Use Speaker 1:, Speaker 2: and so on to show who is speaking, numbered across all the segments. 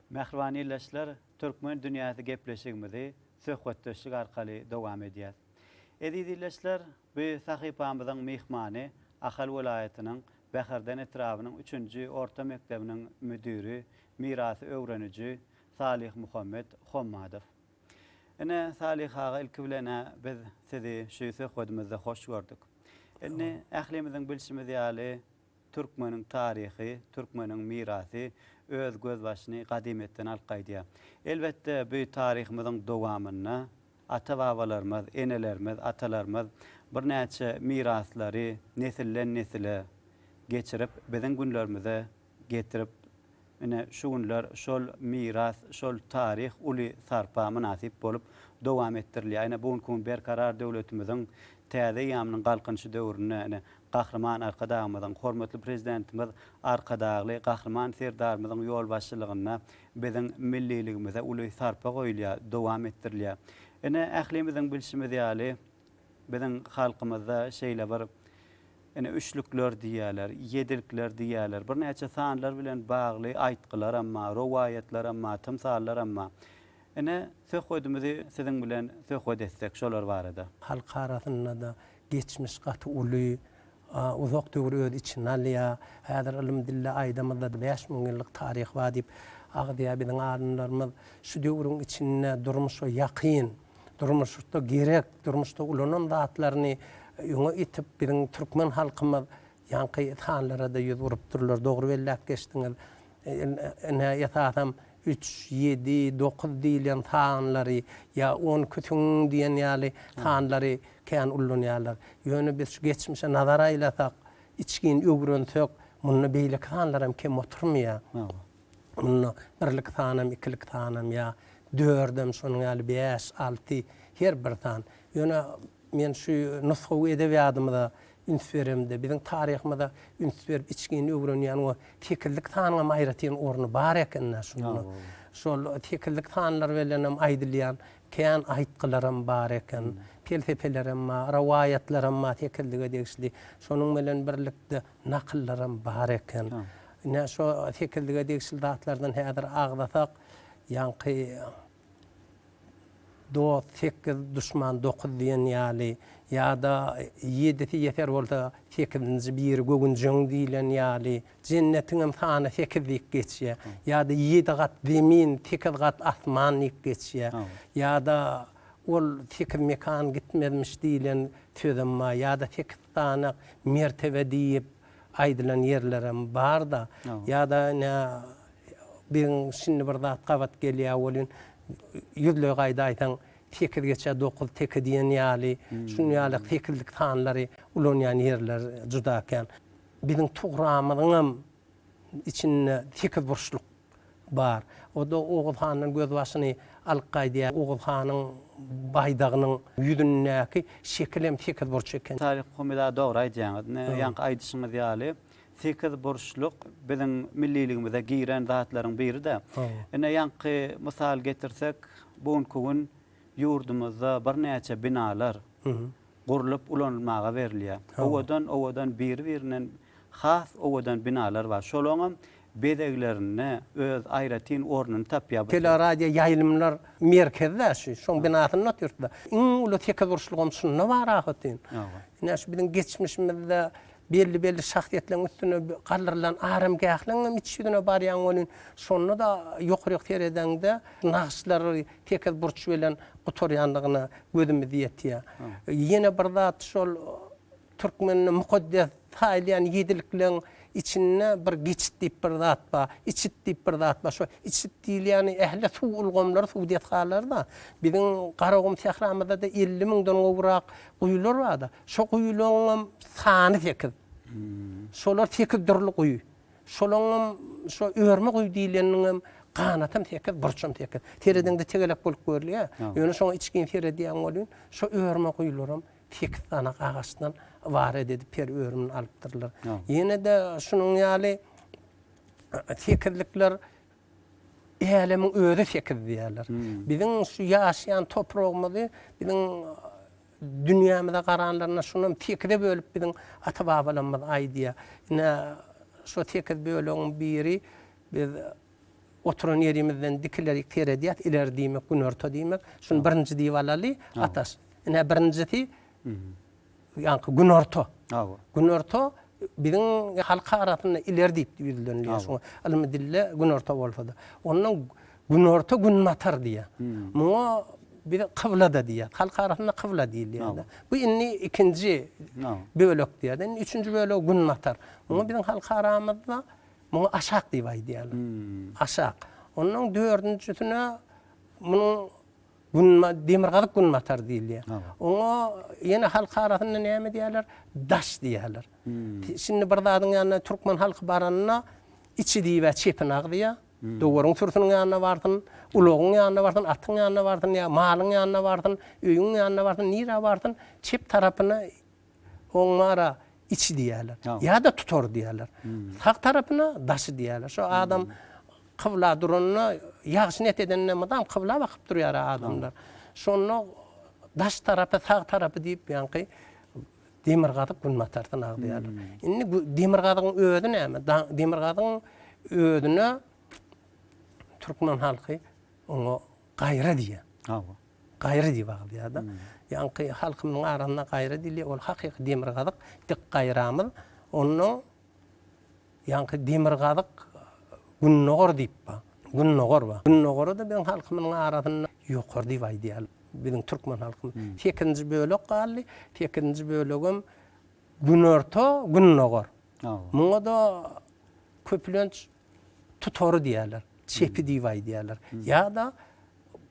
Speaker 1: Mähriban ildeşler, Türkmen dünýäsi gepleşigimizi söhbetdeşlik arkaly dowam edýäs. Eziz ildeşler, bu sahypamyzyň myhmany Ahal welaýatynyň Bäherden etrabynyň üçünji orta mekdebiniň müdiri, mirasy öwreniji Salihmuhammet Hommadow. Ine, Salih aga, ilki bilen-ä biz sizi şu söhbedimizde hoş gördük. Indi ählimiziň bilşimiz ýaly, Türkmeniň taryhy, türkmeniň mirasy öz gözbaşyny gadymyýetden alyp gaýdýar. Elbetde, bu taryhymyzyň dowamynda ata-babalarymyz, enelerimiz, atalarymyz birnäçe miraslary nesilden-nesile geçirip, biziň günlerimize getirip Ine, şu günler şol miras, şol taryh uly sarpa mynasyp bolup dowam etdirilýär. Ine, bu günki gün Berkarar döwletimiziň täze eýýamynyň Galkynyşy döwründe, ine, Gahryman Arkadagymyzyň, hormatly Prezidentimiz Arkadagly Gahryman Serdarymyzyň ýolbaşçylygynda biziň milliligimize uly sarpa goýulýar, dowam etdirilýär. Ine, ählimiziň bilşimiz ýaly, biziň halkymyzda şeýle bir Ine, üçlükler diýýärler, ýedilikler diýýärler, birnäçe sanlar bilen bagly aýtgylaram bar, rowaýatlaram bar, tymsallaram bar. Ine, söhbedimizi siziň bilen söhbet etsek şolar barada. Halk arasynda-da
Speaker 2: geçmiş gaty uly, uzak döwri öz içine alýar. Häzir ylym-dilde aýdamyzda-da bäş müň ýyllyk taryh bar diýip agzýar biziň alymlarymyz. Şu döwrüň içinde durmuşa ýakyn. durmuşda gerek, durmuşda ulanan zatlaryny öňe itip, biziň türkmen halkymyz ýaňky sanlara-da ýüz urupdyrlar. Dogry belläp geçdiňiz. Ine, esasam üç, ýedi, dokuz diýilýän sanlary ýa on küsün diýen ýaly sanlary kän ullanýarlar. Ýöne biz şu geçmişe nazar aýlasak, içgin öwrensek, munda beýleki sanlaram kem oturmaýar. Munda birlik sanam, ikilik sanam ýa dördem, şonuň ýaly bäş, alty, her bir san. Ýöne men şu nusgawy edebiýadymyza üns beremde, biziň taryhymyza üns berip içgin öwrenýän we sekizlik sanyňam aýratyn orny bar eken-dä şunda. Şol sekizlik sanlar bilenem aýdylýan kän aýtgylaram bar eken, pelsepelerem bar, rowaýatlaram bar sekizlige degişli. Şonuň bilen birlikde nakyllaram bar eken. Ine, şo sekizlige degişli zatlardan häzir agzasak, ýaňky Dost sekiz, duşman dokuz diýen ýaly, ýa-da Ýedisi ýeser bolsa, sekizinji biri gögünjegiň diýlen ýaly, Jennetiňem sany sekiz diýip geçýär. Ýa-da Ýedi gat zemin, sekiz gat asman diýip geçýär. Ýa-da Ol sekiz mekan gitmezmiş diýlen sözem bar. Ýa-da sekiz sany mertebe diýip. Aýdylan ýerlerem barda ýada nä bigiň şindi bir zat gabat gelýä welin ýüzleý gaýda aýsaň sekiz geçe dokuz teke diýen ýaly şun ýaly sekizlik sanlary ulanýan ýerler juda kän. Biziň tugramyzyňam içinde sekizburçluk Bar. O-da Oguz handan gözbaşyny alyp gaýdýar. Oguz hanyň baýdagynyň ýüzündäki şekil hem sekizburç eken. Taryk Humyda dogry
Speaker 1: aýdýaňyz. Ine, ýaňky aýdyşyňyz ýaly, sekizburçluk biziň milliligimize giren zatlaryň biri-de. Ine, ýaňky mysal getirsek, bu günki gün ýurdumyzda birnäçe binalar gurlup ulanylmaga berilýär. Owadan-owadan biri-birinden has owadan binalar bar. Şolaňam bezeglerinde öz aýratyn ornuny tapýar bu sert. Teleradioýaýlymlar
Speaker 2: merkezi-dä şu, şoň binasynda otyrys-da. Iň uly sekizburçlugam şunda bar ahbetin. Ine şu biziň geçmişimizde Belli-belli şahsyýetleriň üstüne galdyrylan aramgähliň hem iç ýüzüne barýaň welin, şonda-da ýokaryk seredeňde nagyşlary tekiz burç bilen gutarýandygyna gözümiz ýetýär. Ýene bir zat, şol türkmende mukaddes saýylýan ýedilikleň içinde bir geçit diýip bir zat bar, içit diýip bir zat bar. Şo içit diýilýäni ähli suw ulgamlary, suw desgalary-da. Biziň Garagum sähramyzda-da elli müňden gowrak guýular bar-da. Şo guýularyňam sany sekiz. Şolar sekiz dürli guýy. Şolaňam şo örme guýy diýleniniňem ganatam sekiz, burçam sekiz. Seredeňde tegelek bolup görülýär. Ýöne şoňa içgin seredýän welin, şo örme guýularam sekiz sany agaçdan ybarat edip peri örümini alypdyrlar. Ýene-de şunuň ýaly sekizlikler Älemiň özi sekiz diýýärler. Biziň şu ýaşaýan topragymyzy biziň Dünýämize garanlarynda şunam sekize bölüp biziň ata-babalarymyz aýdýar. Ine, şo sekiz bölegiň biri biz oturan ýerimizden dikilerik seredýäs, ileri diýmek, günorta diýmek. Şuny birinji diýip alaly, Ataş. Ine, birinjisi ýaňky günorta. Hawa. Günorta biziň halk arasynda ileri diýip ýüzlenilýär. Şuňa ylmy dilde günorta bolsa-da. Ondan Günorta günbatar diýýär. Muňa biz kyblada diýýär. Halk arasynda kybla diýilýär. Bu indi ikinji bölek diýýär. Indi üçünji bölek günbatar. Muňa biziň halk aramyzda muňa aşak diýip aýdýarlar. Aşak. Onuň dördünjisine munuň günba demirgazyk günbatar diýilýär. Oňa ýene halk arasynda näme diýýärler? Daş diýýärler. Şindi bir zadyň ýanyna türkmen halky baranda içi diýibä çepini agzýar. Dowaryň sürsiniň ýanyna barsyn, ulagyň ýanyna barsyn, atyň ýanyna barsyn ýa malyň ýanyna barsyn, öýüň ýanyna barsyn, nirä barsyn, çep tarapyna oň mara içi diýerler. Ýa-da tutar diýerler. Sag tarapyna daşy diýerler. Şo adam kybla duranda, ýagşy niýet edende mydam kybla bakyp durýar-a adamlar. Şonda daş tarapy, sag tarapy diýip ýaňky Demirgazyk günbatarsyn agzýarlar. Indi demirgazygyň özi näme? Demirgazygyň özüne türkmen halky oňa gaýra diýýär. Hawa. Gaýra diýip agzýar-da. Ýaňky halkymyň arasynda gaýra diýilýär. Ol hakyky demirgazyk, dik gaýramyz. Onuň Ýaňky demirgazyk gündogar diýip bar. Gündogar bar. Gündogara-da biziň halkymyzyň arasynda ýokary diýip aýdýar biziň türkmen halkymyz. Sekizinji bölek galdy. Sekizinji bölegem günorta, gündogar. Muňa-da köplenç tutary diýýärler. Çepi diýip aýdýarlar. Ýa-da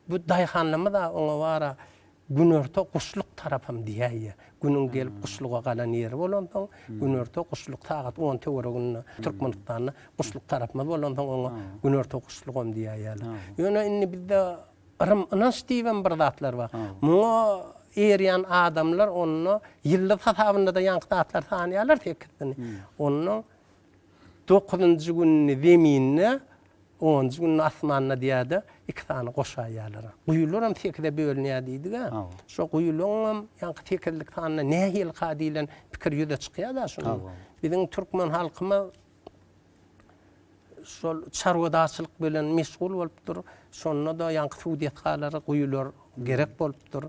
Speaker 2: Bu daýhanlymyz-a oňa bar-a, günorta guşluk tarapam diýäýýä. Günüň gelip guşluga galan ýeri bolansoň, günorta guşluk sagat on töwereginde Türkmenistanda guşluk tarapymyz bolansoň oňa günorta guşlugam diýäýýäler. Ýöne indi bizde yrym ynanç diýibem bir zatlar bar. Muňa erýän adamlar onda ýyldyz hasabynda-da ýaňky zatlar sanýarlar sekizini. Onda Dokuzynjy gününi zeminde, onunjy gününi asmanda diýýär-de, iki sany goşaýýarlar. Guýularam sekize bölünýär diýdik-ä. Şo guýularyňam ýaňky sekizlik sanynda nähilikä diýlen pikir ýüze çykýar-da şunda. Biziň türkmen halkymyz şol çarwadarçylyk bilen meşgul bolupdyr. Şonda-da ýaňky suw desgalary guýular gerek bolupdyr.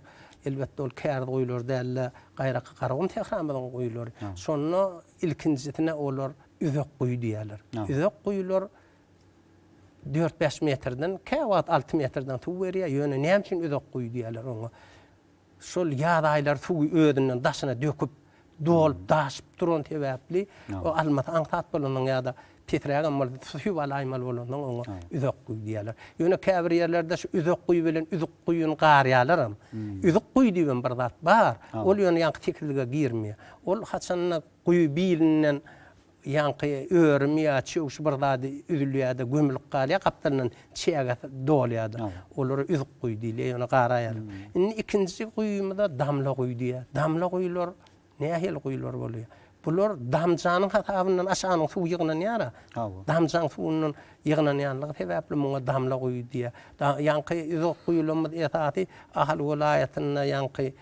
Speaker 2: Elbetde, ol kärguýular däl-de, gaýraky Garagum sähramyzyň guýulary. Şonda Ilkinjisine olar üzek guýy diýýärler. Üzek guýular dört-bäş metrden, käwagt alty metrden suw berýär. Ýöne näme üçin üzek guýy diýýärler oňa? Şol ýaz aýlary suwy özünden daşyna döküp, dolup-daşyp duran sebäpli, o almasy aňsat bolanyň ýa-da Pesirägem bolsa suw alaýmaly bolansoň oňa üzük guý diýýärler. Ýöne käbir ýerlerde şu üzük guý bilen üzük guýyny garýarlaram. Üzük guý diýibem bir zat bar. Ol ýöne ýaňky tekizlige girmeýär. Ol haçanda guýy bilinden ýaňky örüm ýa çöw şu bir zady üzülýär-de gömülip galýar gapdalyndan çäge dolýar-da. Olara üzük guý diýilýär. Ýöne garaýarlar. Indi ikinji guýymyza damla guý diýýär. Damla guýlar Nähili guýular bolýar? Bular damjanyň hasabyndan aşanyň suwy ýygnanýar-a. Damjanyň suwundan ýygnanýanlygy sebäpli muňa damla guýy diýýär. Ýaňky uzak guýularymyz esasy Ahal welaýatynda ýaňky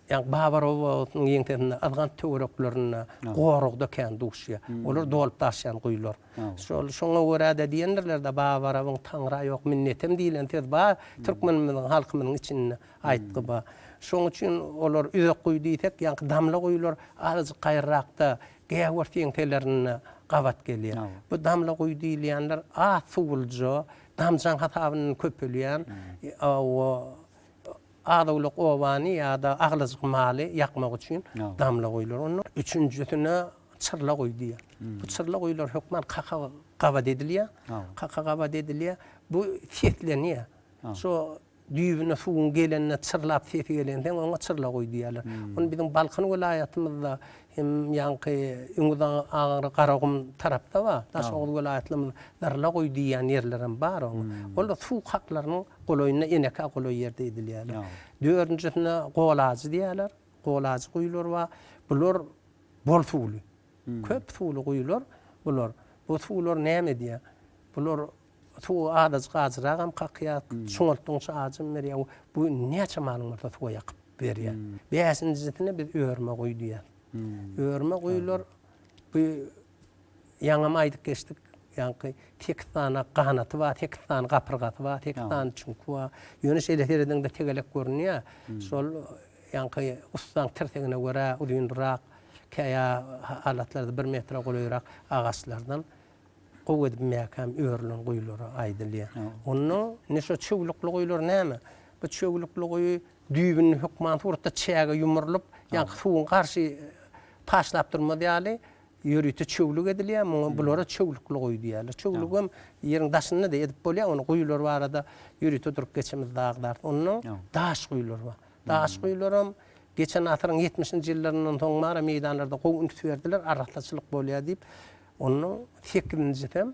Speaker 2: ýa Babar obasynyň ýeňsesinde Yzgant töwereklerinde, goragda kän duşýar. Olar dolup daşýan guýular. Şol şoňa görä-de diýendirler-de, Babarabyň taňra ýok minnetem diýlen söz bar türkmenimiziň halkymyzyň içinde. Aýtgy bar. Şoň üçin olar üzek guýy diýsek, ýaňky damla guýular azajyk gaýrarakda, gäwür seňselerinde gabat gelýär. Bu damla guýy diýilýänler az suwluja, damjaň hasabyndan köpelýän, az-owlak obany ýa-da aglajyk maly ýakmak üçin damla guýular. Onda üçünjisine çyrla guýy diýýär. Bu çyrla guýular hökman kaka gabat edilýär. Kaka gabat edilýär. Bu seslenýär. Şo Düýbüne suwuň gelende çyrlap sesi gelenseň oňa çyrla goý diýýärler. Ony biziň Balkan welaýatymyzda hem ýaňky Öňüz aňry Garagum tarapda bar. Daşoguz welaýatlymyz Zyrla goý diýýän ýerlerem bar oňa. Ol da suw haklarynyň golaýynda enekä golaý ýerde edilýärler. Dördünjisine golajy diýýärler. Golajy guýular bar. Bular bol suwly. Köp suwly guýular bular. Bu suwlar näme edýär? Bular Suwy azajyk ajyragam kakýar. Çuňaltdygyňça ajam berýär. Bu näçe malyň bolsa suwa ýakyp berýär. Bäşinjisine biz örme guý diýýäs. Örme guýular bu ýaňam aýdyp geçdik. Ýaňky sekiz sany ganaty bar, sekiz sany gapyrgasy bar, sekiz sany çüňki bar. Ýöne şeýle serediňde tegelek görünýär. Şol ýaňky ussaň tirsegine görä uzynrak, käýa halatlarda bir metre golaýrak agaçlardan. Gowy edip mäkäm örülen guýulara aýdylýar. Onda indi şo çöwlükli guýular näme? Bu çöwlükli guýy düýbünden hökman suratda çäge ýumrulyp, ýa-da suwuň garşy taşlap durmaz ýaly ýörite çöwlük edilýär. Muňa bulara çöwlükli guýy diýýärler. Çöwlügi hem ýeriň daşynda-da edip bolýar. Onda guýular barada ýörite durup geçemizde zagdarsyz. Ondan daş guýular bar. Daş guýular hem geçen asyryň ýetmişinji ýyllaryndan soň bar, meýdanlarda gowy üns berdiler, arassaçylyk bolýar diýip. Onuň sekizinjisem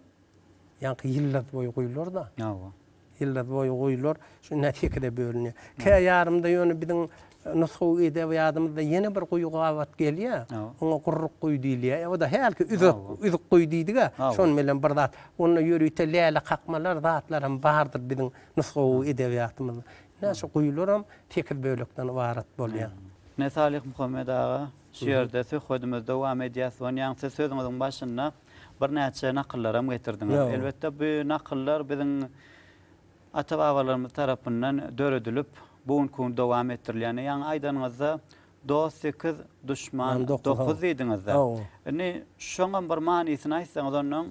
Speaker 2: ýaňky ýyldyz boýy guýular-da. Hawa. Ýyldyz boýy guýular şu ine sekize bölünýär. Kä ýarymda ýöne biziň nusgawy edebiýadymyzda ýene bir guýy gabat gelýär. Oňa gurruk guýy diýilýär. O-da hälki üzük, üzük guýy diýdik-ä. Şonuň bilen bir zat. Onda ýörite läle kakmalar, zatlaram bardyr biziň nusgawy edebiýatymyzda. Ine şu guýularam sekiz bölekden ybarat bolýar. Ine Salyhmuhammet
Speaker 1: aga Şu ýerde söhbedimizi dowam edýäs. Onýaň siz sözüňiziň başynda birnäçe nakyllaram getirdiňiz. Elbetde bu nakyllar biziň ata-babalarymyz tarapyndan döredilip, bu günki gün dowam etdirilýän. Ýaňy aýdanyňyzda dost sekiz, duşman dokuz diýdiňizde. Indi şoňam bir manysyny aýtsaňyz onnoň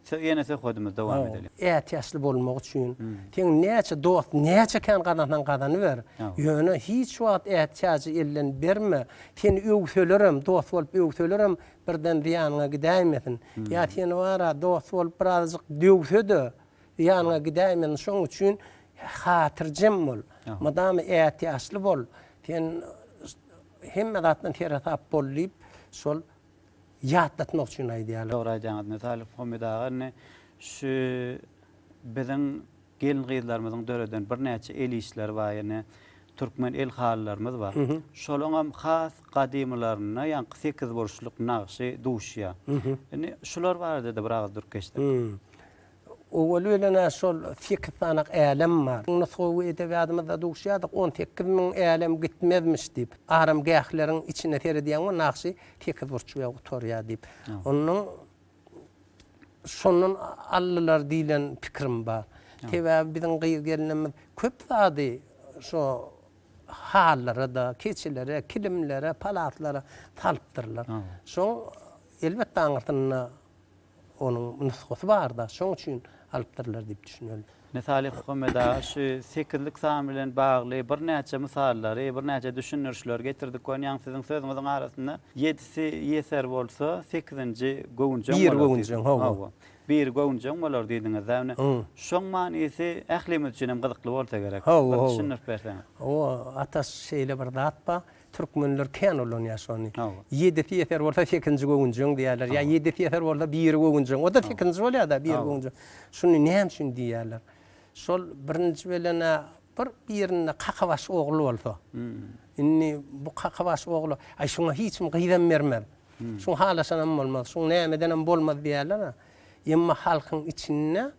Speaker 1: Söz ýene söhbedimiz dowam edeli. Ätiýaçly bolmak
Speaker 2: üçin seň näçe dost näçe kän gazansaň gazanyber ýöne hiç wagt ätiýajy elden berme seni öwselerem dost bolup öwselerem birden zyýanyňa gidäýmesin ýa seni bara dost bolup birazajyk döwsede zyýanyňa gidäýmesin şoň üçin hatyrjem bol mydama ätiýaçly bol sen hemme zatdan seresap bol diýip şol ýatlatmak üçin aýdýarlar. Dogry aýdýaňyz Metalliw
Speaker 1: Homid aga indi şu biziň gelin gyzlarymyzyň döreden birnäçe el işleri bar ýene türkmen el halylarymyz bar. Şolaňam has gadymylarynda ýaňky sekiz burçluk nagşy duşýar. Indi şular barada-da bir agyz durk geçsek. Owal
Speaker 2: bilen-ä şol sekiz sanak älem bar. Nusgawy edebýadymyzda duşýardyk, on sekiz müň älem gitmezmiş diýip. Aramgähleriň içine seredýäňmi, nagşy sekizburçly bilen gutarýar diýip. Ondan şondan aldylar diýlen pikirim bar. Sebäbi biziň gyz-gelnimiz köp zady şo hallara-da, keçelere, kilimlere, palatlara salypdyrlar. Şoň elbetde aňyrsynda. Onuň nusgasy bar-da, şoň üçin alypdyrlar diýip düşüneli. Mysaly Hukomeda
Speaker 1: şu sekizlik san bilen bagly birnäçe mysallary, birnäçe düşündirişleri getirdik. Görýäňiz, siziň sözüňiziň arasynda ýedisi ýeser bolsa, sekizinji göwünjeň bolar. Biri göwünjeň, hawa.
Speaker 2: Biri göwünjeň
Speaker 1: bolar diýdiňiz-dä. Ine, şoň manysy ählimiz üçin hem gyzykly bolsa gerek. Hawa, hawa. Bir düşündirip berseňiz. Hawa, Ataş,
Speaker 2: şeýle bir zat bar. Türkmenler kän ulanýar şony. Ýedisi ýeser bolsa sekizinji göwünjegiň diýýärler. Ýa ýedisi ýeser bolsa biri göwünjegiň. O-da sekizinji bolýar-da, biri göwünjegiň. Şuny näme üçin diýýärler? Şol birinji bilen-ä bir birinde kakabaş ogul bolsa. Indi bu kakabaş ogla, Aý, şuňa hiç kim gyzam bermez. Şuň halaşanam bolmaz. Şuň nämedenem bolmaz diýýärler-ä. Emma halkyň içinde.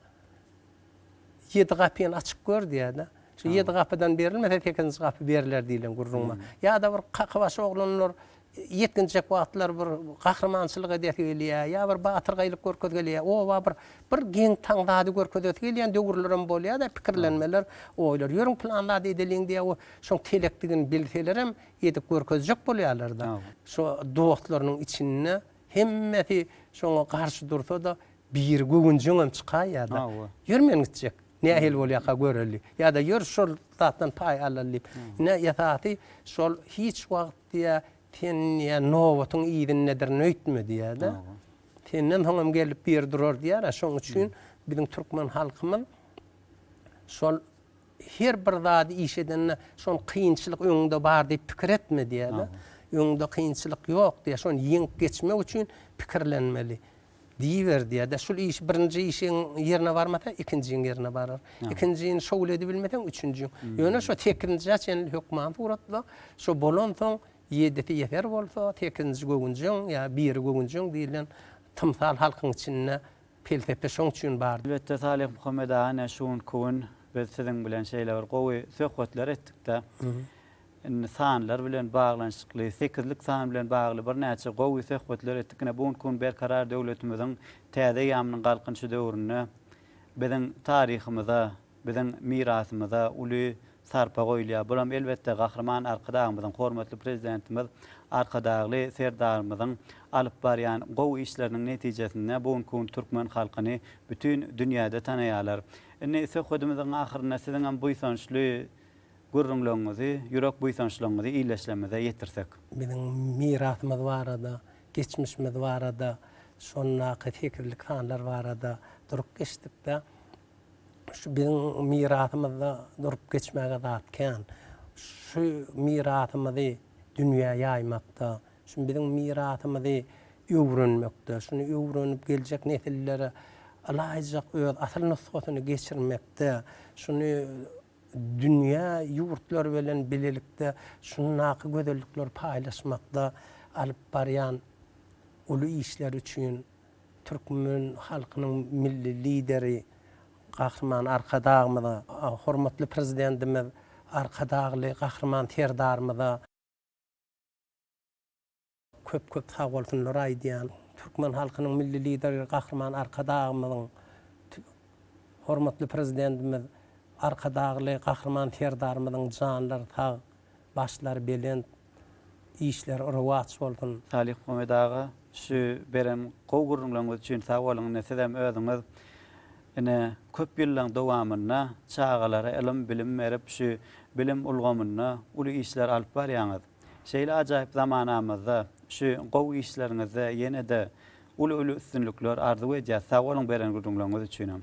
Speaker 2: Ýedi gapyny açyp gör diýýär-de. Şu ýedi gapydan berilmese, sekizinji gapy beriler diýlen gürrüň bar. Ýa-da bir kakybaşy oglanlar ýetginjek wagtlary bir gahrymançylyk edesi gelýär, ýa bir batyrgaýlyk görkezesi gelýär, oba bir bir geň taň zady görkezesi gelýän döwürlerem bolýar-da, pikirlenmeler, oýlar. Ýörüň pylan zady edeliň diýýär, o şoň telekdigini bilselerem edip görkezjek bolýarlar-da. Şu dostlarynyň içinde Hemmesi şoňa garşy dursa-da, biri göwünjeňem çykaýýar-da, Ýör men gitjek, nähili bolýarka göreli. Ýa-da Ýör şol zatdan paý alaly diýip. Ine, esasy şol hiç wagt diýýä, sen diýýä, nobatyň yzyndadyr öýtme diýýär-de. Senden soň hem gelip biri durar diýýär-ä. Şonuň üçin biziň türkmen halkymyz şol Her bir zady iş edende şony kynçylyk öňüňde bar diýip pikir etme diýýärler. Öňüňde kynçylyk ýok diýýär. Şony ýeňip geçmek üçin pikirlenmeli. Diýiber diýýär-de. Şul iş birinji işiň ýerine barmasa, ikinjiň ýerine barar. Ikinjini şowly edibilmeseň, üçünjiň. Ýöne şo sekizinjä çenli hökman suratla. Şo bolansoň, ýedisi ýeser bolsa, sekizinji göwünjeň ýa biri göwünjeň diýlen tymsal halkyň içinde Pelsepe şoň üçin bar. Elbetde Salih Muhammed
Speaker 1: aga ine şugun kugün biz siziň bilen şeýle bir gowy söhbetler etdikde indi sanlar bilen baglanyşykly sekizlik san bilen bagly birnäçe gowy söhbetler etdik ine bu gün kugün Berkarar döwletimiziň täze eýamynyň galkynyşy döwründe biziň taryhymyza Biziň mirasymyza uly sarpa goýulýar. Bulam, elbetde, Gahryman Arkadagymyzyň, hormatly Prezidentimiz Arkadagly Serdarymyzyň alyp barýan gowy işleriniň netijesinde bu günki gün türkmen halkyny bütin dünýäde tanaýarlar. Indi söhbedimiziň ahyrynda siziňem buýsançly gürrüňleriňizi, ýürek buýsançlaryňyzy ildeşlerimize ýetirsek. Biziň
Speaker 2: mirasymyz barada, geçmişimiz barada, şondaky sekizlik sanlar barada durup geçdik-de, Şu biziň mirasymyzda durup geçmäge zat kän. Şu mirasymyzy dünýä ýaýmakda, şu biziň mirasymyzy öwrenmekde, şuny öwrenip geljek nesillere ylaýyjak öz asyl nusgasyny geçirmekde, şuny dünýä ýurtlary bilen bilelikde şundaky gözellikleri paýlaşmakda alyp barýan uly işleri üçin Türkmen halkynyň Milli Lideri Gahryman Arkadagymyza, hormatly Prezidentimiz Arkadagly Gahryman Serdarymyza köp-köp sag bolsunlary aýdýan. Türkmen halkynyň Milli Lideri Gahryman Arkadagymyzyň, hormatly Prezidentimiz Arkadagly Gahryman Serdarymyzyň janlary sag, başlary belent, işler rowaç bolsun. Salyh Muhammet aga
Speaker 1: şu beren gowy gürrüňleriňiz üçin sag boluň ine sizem özüňiz ine köp ýyllaň dowamynda çagalara ylym bilim berip şu bilim ulgamynda uly işler alyp barýaňyz şeýle ajaýyp zamanamyzda şu gowy işleriňizde ýenede uly uly üstünlikler arzuw edýäs sag boluň beren gürrüňleriňiz üçinem.